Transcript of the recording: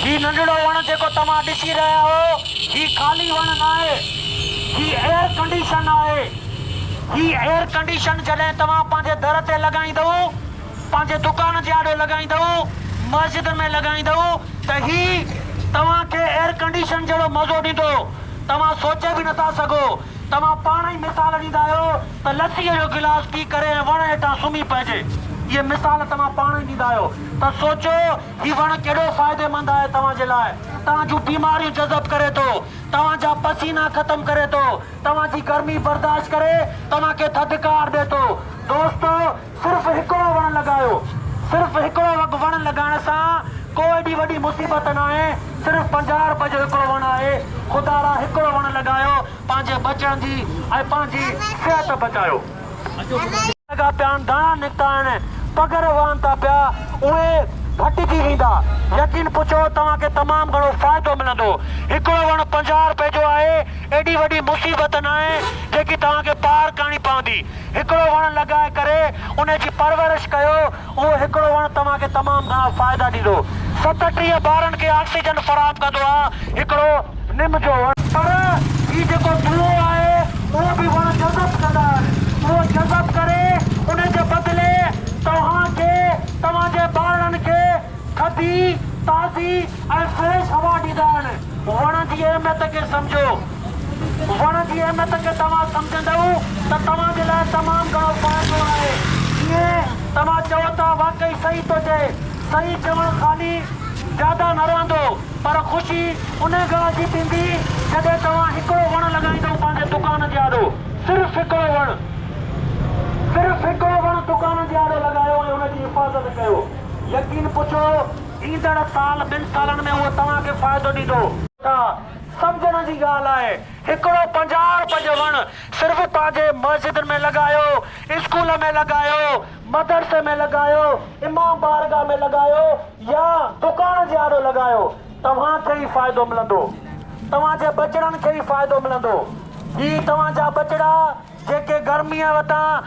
هي ننڍڙو وڻ جيڪو توهان ڏسي رهيا آهيو، هي خالي وڻ ناهي. هي ايئر ڪنڊيشن آهي. هي ايئر ڪنڊيشن جڏهن توهان پنهنجي در تي لڳائيندؤ، پنهنجي دڪان جي آڏو لڳائيندؤ، مسجد ۾ لڳائيندؤ ته هي توهان کي ايئر ڪنڊيشن جهڙو مزو ڏيندو، توهان سوچي به نٿا سگهو. توهان پاڻ ئي مثال ڏيندا آهيو ته لسيء جو گلاس پي ڪري ۽ وڻ هيٺان سمهي پئجي. اهي مثال توهان پاڻ ئي ڏيندا آهيو ته سوچو هي وڻ ڪيڏو فائديمند آهي توهان جي لاء. توهان جون بيماريون جذب ڪري ٿو، توهان جا پسينا ختم ڪري ٿو، توهان جي گرمي برداشت ڪري توهان کي ٿڌڪار ڏي ٿو. دوستو! صرف هڪڙو وڻ لڳايو. صرف هڪڙو وڳ وڻ لڳائڻ سان ڪو ايڏي وڏي مصيبت ناهي صرف پنجاهه روپين جو هڪڙو وڻ آهي خدا ڙا هڪڙو وڻ لڳايو پنهنجي ٻچن جي ۽ پنهنجي صحت بچايو. لڳا پيا آهن ڌڻا نڪتا آهن پگهر وهن ٿا پيا اهي ڦٽجي ويندا يقين پڇو توهان کي تمام گهڻو فائدو ملندو هڪڙو وڻ پنجاهه روپين جو آهي ايڏي وڏي مصيبت ناهي جيڪي توهان کي پار ڪرڻي پوندي. هڪڙو وڻ لڳائي ڪري ان جي پرورش ڪيو، اهو هڪڙو وڻ توهان کي تمام گهڻا فائدا ڏيندو. ستٽيهه ٻارن کي آڪسيجن فراهم ڪندو آ هڪڙو نم جو وڻ. پر هي جيڪو ڌونئو آهي اهو به وڻ جذب ڪندا آهن، اهو جذب ڪري ان جي بدلي توهان کي توهان جي ٻارڙن کي ٿڌي، تازي ۽ فريش هوا ڏيندا آهن. وڻن جي اهميت کي سمجهو. وڻ جي اهميت کي توهان سمجهندؤ ته توهان جي لاء تمام گهڻو فائدو آهي. ڪيئن؟ توهان چئو ٿا واقعي صحيح ٿو چئي. صحيح چوڻ خالي جاده نه رهندو پر خوشي انهي ڳالهه جي ٿيندي جڏهن توهان هڪڙو وڻ لڳائيندؤ پنهنجي دڪان جي آڏو. صرف هڪڙو وڻ. صرف هڪڙو وڻ دڪان جي آڏو لڳايو ۽ ان جي حفاظت ڪيو. يقين پڇو ايندڙ سال ٻن سالن ۾ اهو توهان کي فائدو ڏيندو. ٿا. سمجهڻ جي ڳالهه آهي هڪڙو پنجاهه روپين جو وڻ صرف پنهنجي مسجد ۾ لڳايو اسڪول ۾ لڳايو مدرسي ۾ لڳايو امام بارگاهه ۾ لڳايو يا دڪان جي آڏو لڳايو توهان کي ئي فائدو ملندو توهان جي ٻچڙن کي ئي فائدو ملندو هي توهان جا ٻچڙا جيڪي گرميء وٽان